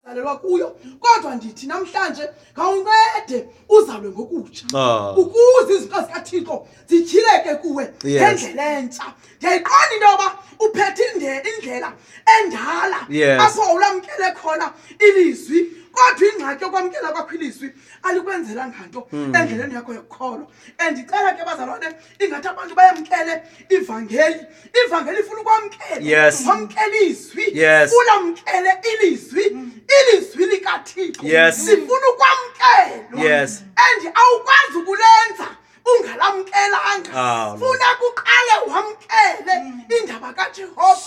alelwa kuyo kodwa ndithi namhlanje ngawuncede uzalwe ngokutsha ah. ukuze izinto zikathixo zityhileke kuwe ngendlela entsha ndiyayiqonda into yoba uphethe indlela endala apho ulamkele khona ilizwi kodwa ingxaki yokwamkela kwakho ilizwi alikwenzelanga nto hmm. endleleni yakho yokukholwa andicela ke bazalwane ingathi abantu bayamkele ivangeli ivangeli ifuna ukwamkela yes. wamkela izwi yes. funa mkele ilizwi ilizwi likathixo yes. sifuna ukwamkelwa yes. and awukwazi ukulenza ungalamkelanga ah, funa kuqale wamkele indaba kajehova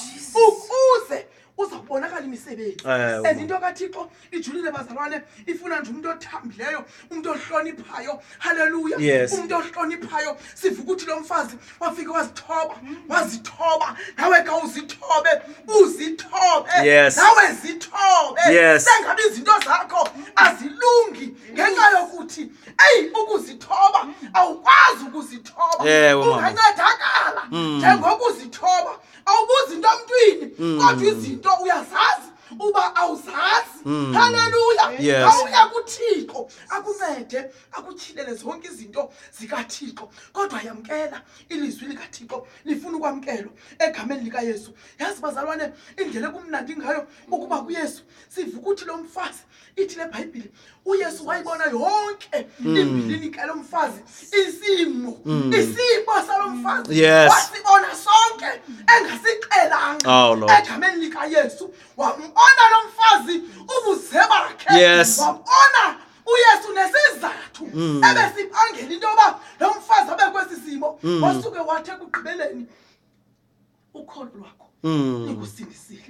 ukuze uza kubonakala imisebenzi Eh, and into kathixo ijulile bazalwane ifuna nje umntu othambileyo umntu ohloniphayo halleluya Yes. umntu ohloniphayo siva ukuthi lo mfazi wafike wazithoba wazithoba nawe ka uzithobe uzithobe Yes. nawe zithobe Yes. sengabe izinto zakho azilungi ngenxa yokuthi eyi ukuzithoba awukwazi ukuzithoba Ewe, mama. ungancedakala njengokuzithoba awubuzi into emntwini mm. kodwa izinto uyazazi uba awuzazi mm. haleluya yes. awuya kuthixo akuncede akutyhilele zonke izinto zikathixo kodwa yamkela ilizwi likathixo lifuna ukwamkelwa egameni likayesu yazi bazalwane indlela ekumnandi ngayo ukuba kuyesu sivukuthi lo mfazi ithi le bhayibhile uyesu wayibona yonke hmm. imbilini kalo mfazi isimo hmm. isimo salo mfazi wasibona sonke engasixelanga oh, egameni likayesu wambona lo mfazi ubuze bakhe wambona uyesu nesizathu hmm. ebesibangela into yoba lo mfazi abe kwesi simo wasuke wathi ekugqibeleni ukholo lwakho Mm. likusindisile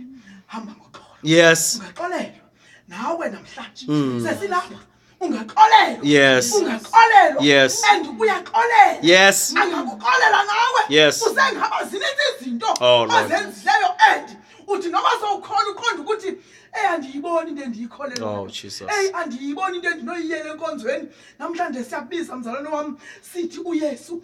hamba ngoxolo Yes. ungaxolelwa nawe namhlanje Mm. sesilapha ungaxolelwa Yes. ungaxolelwa Yes. and uyaxolela Yes. angakuxolela nawe Yes. usengaba zininzi izinto Oh, Lord. ozenzileyo and uthi noba sowukhona uqonda ukuthi eyi andiyiboni into endiyikholelwa Oh, Jesus. eyi andiyiboni into endinoyiyela enkonzweni namhlanje siyakubiza mzalwane wam sithi uyesu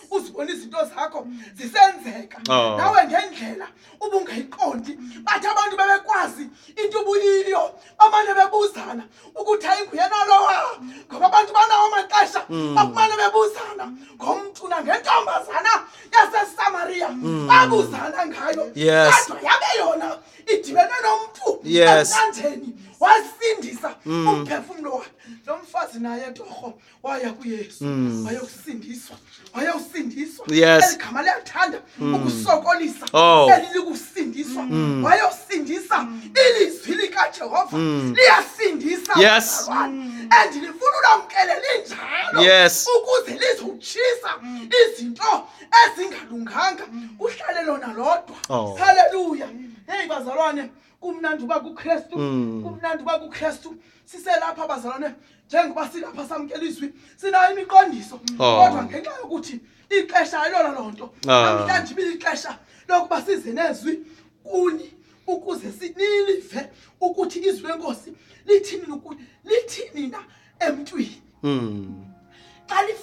uzibona izinto zakho zisenzeka oh. nawe ngendlela ubungayiqondi bathi abantu bebekwazi into ubuyiyo bamane bebuzana ukuthi ayinguyena lowa ngoba abantu banawo amaxesha hmm. bakumane bebuzana ngomntu nangentombazana yasesamariya hmm. babuzana ngayo kodwa yabe yona idibene nomntu emnandeni wasindisa hmm. umphefumlo wakhe lo mfazi naye torho waya kuyesu mm. wayokusindiswa wayosindiswa yes. eligama liyathanda mm. ukusokolisa oh. elilikusindiswa mm. wayosindisa mm. ilizwi likajehova mm. liyasindisa yes. mm. and lifuna ulamkele linjalo yes. ukuze lizotshisa mm. izinto ezingalunganga mm. kuhlale lona lodwa oh. haleluya heyi bazalwane kumnandi uba kukristu mm. kumnandi uba kukristu siselapha bazalwane njengoba silapha samkela izwi sinayo imiqondiso oh. kodwa ngenxa yokuthi ixesha ayilona loo nto ah. namhlanje ibilixesha lokuba size nezwi kuni ukuze sinilive ukuthi izwi lenkosi lithini lithini na emntwini hmm. xa